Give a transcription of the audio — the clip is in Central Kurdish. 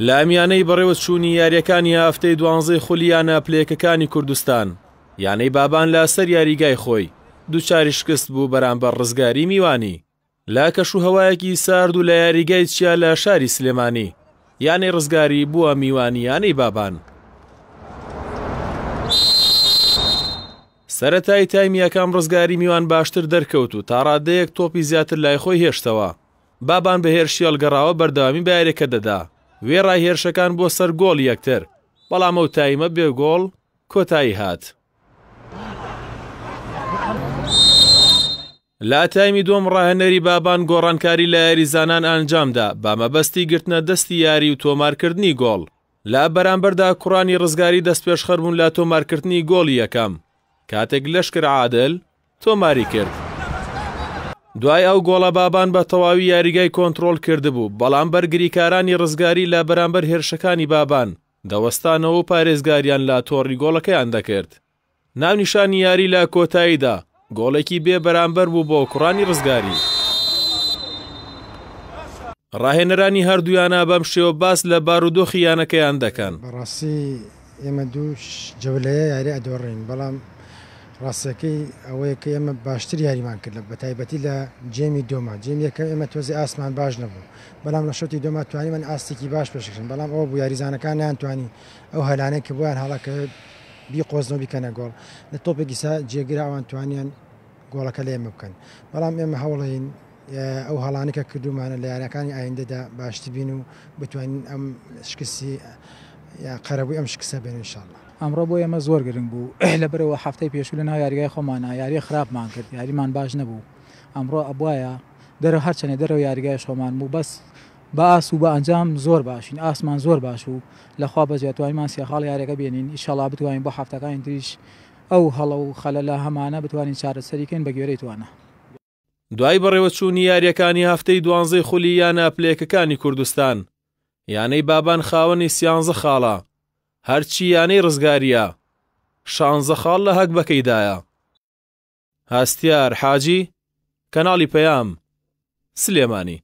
لە میانەی بەڕێوەچوونی یاریەکانی هەفتەی دوانزەی خولی یانە پلەیەکەکانی کوردستان یانەی بابان لە سەر یاریگای خۆی دووچاری شکست بوو بەرامبەر ڕزگاری میوانی لە کەش و هەوایەکی سارد و لە یاریگای چیا لە شاری سلێمانی یانەی ڕزگاری بووە میوانیانەی بابان. سەرەتای تایم یەکەم رزگاری میوان باشتر دەرکەوت و تاڕادەیەک تۆپی زیاتر لای خۆی هێشتەوە، بابان بە هێرشی هەڵگەڕاوە بەردەوامی بە یاریەکە دەدا، وێڕای هێرشەکان بۆ سەر گۆڵی یەکتر، بەڵام ئەو تایمە بێ گۆڵ کۆتایی هات. لە تایمی دووەم راهێنەری بابان گۆڕانکاری لە یاریزانان ئەنجامدا بە مەبەستی گرتنە دەستی یاری و تۆمارکردنی گۆڵ، لە بەرامبەردا کوڕانی رزگاری دەستپێشخەربوون لە تۆمارکردنی گۆڵی یەکەم، کاتێک لەشکر عادل تۆماری کرد. دوای ئەو گۆڵە بابان بە تەواوی یاریگای کۆنتڕۆڵ کردبوو، بەڵام بەرگریکارانی رزگاری لە بەرامبەر هێرشەکانی بابان دەوەستانەوە و پارێزگاریان لە تۆڕی گۆڵەکەیان دەکرد، ناونیشانی یاری لە کۆتاییدا گۆڵێکی بێ بەرامبەر بوو بۆ کوڕانی ڕزگاری. ڕاهێنەرانی هەردوویانە بەم شێوە باس لە بارودۆخی یانەکەیان دەکەن. بەڕاستی ئێمە دوو جەولەیە یاری ئەدۆڕێین، بەڵام ڕاستییەکەی ئەوەیە کە ئێمە باشتر یاریمان کرد بەتایبەتی لە جێمی دۆما، جێمی یەکەم ئێمە تۆزێ ئاستمان باش نەبوو، بەڵام لە شەوتی دۆما توانیمان ئاستێکی باش پێشکەشکەین، بەڵام ئەوە بوو یاریزانەکان نەیانتوانی ئەو هەلانەی کە بۆیان هەڵەکەوێت بیقۆزنەوە بیکەنە گۆڵ، لە تۆپێک ئیستا جێگرە ئەوان توانیان گۆڵەکە لە ئێمە بکەن، بەڵام ئێمە هەوڵەین ئەو هەڵانەی کە کردوومانە لە یارییەکانی ئایندەدا باشتر بین و بتوانین ئەم شکستی یان قەرەبووی ئەم شکستە بین ان شاء اللە. ئەمڕۆ بۆ ئێمە زۆر گرنگ بوو، لەبەرئەوە هەفتەی پێشوو لەناو یاریگای خۆمانا یاریی خراپمان کرد، یاریمان باش نەبوو، ئەمڕۆ ئەبوایە دەرەوە هەرچەنێ دەرەوەی یاریگایش خۆمان بوو، بەس بە ئاست و بە ئەنجام زۆر باشین ئاستمان زۆر باش بوو لە خوا بەزویە توانیمان سێ خاڵی یاریەکە بێنین ئیشەڵا بتوانین بۆ هەفتەکانی تریش ئەو هەڵە و خەلەلە هەمانە بتوانین چارەسەری کەین بە گوێرەی توانا. دوای بەڕێوەچوونی یارییەکانی هەفتەی دوانزەی خولی یانە پلەیەکەکانی کوردستان، یانەی بابان خاوەنی سیانزە خاڵە، هەرچی یانەی ڕزگارییە شانزە خاڵ لە هەگبەکەیدایە. هەستیار حاجی، کەناڵی پەیام، سلێمانی.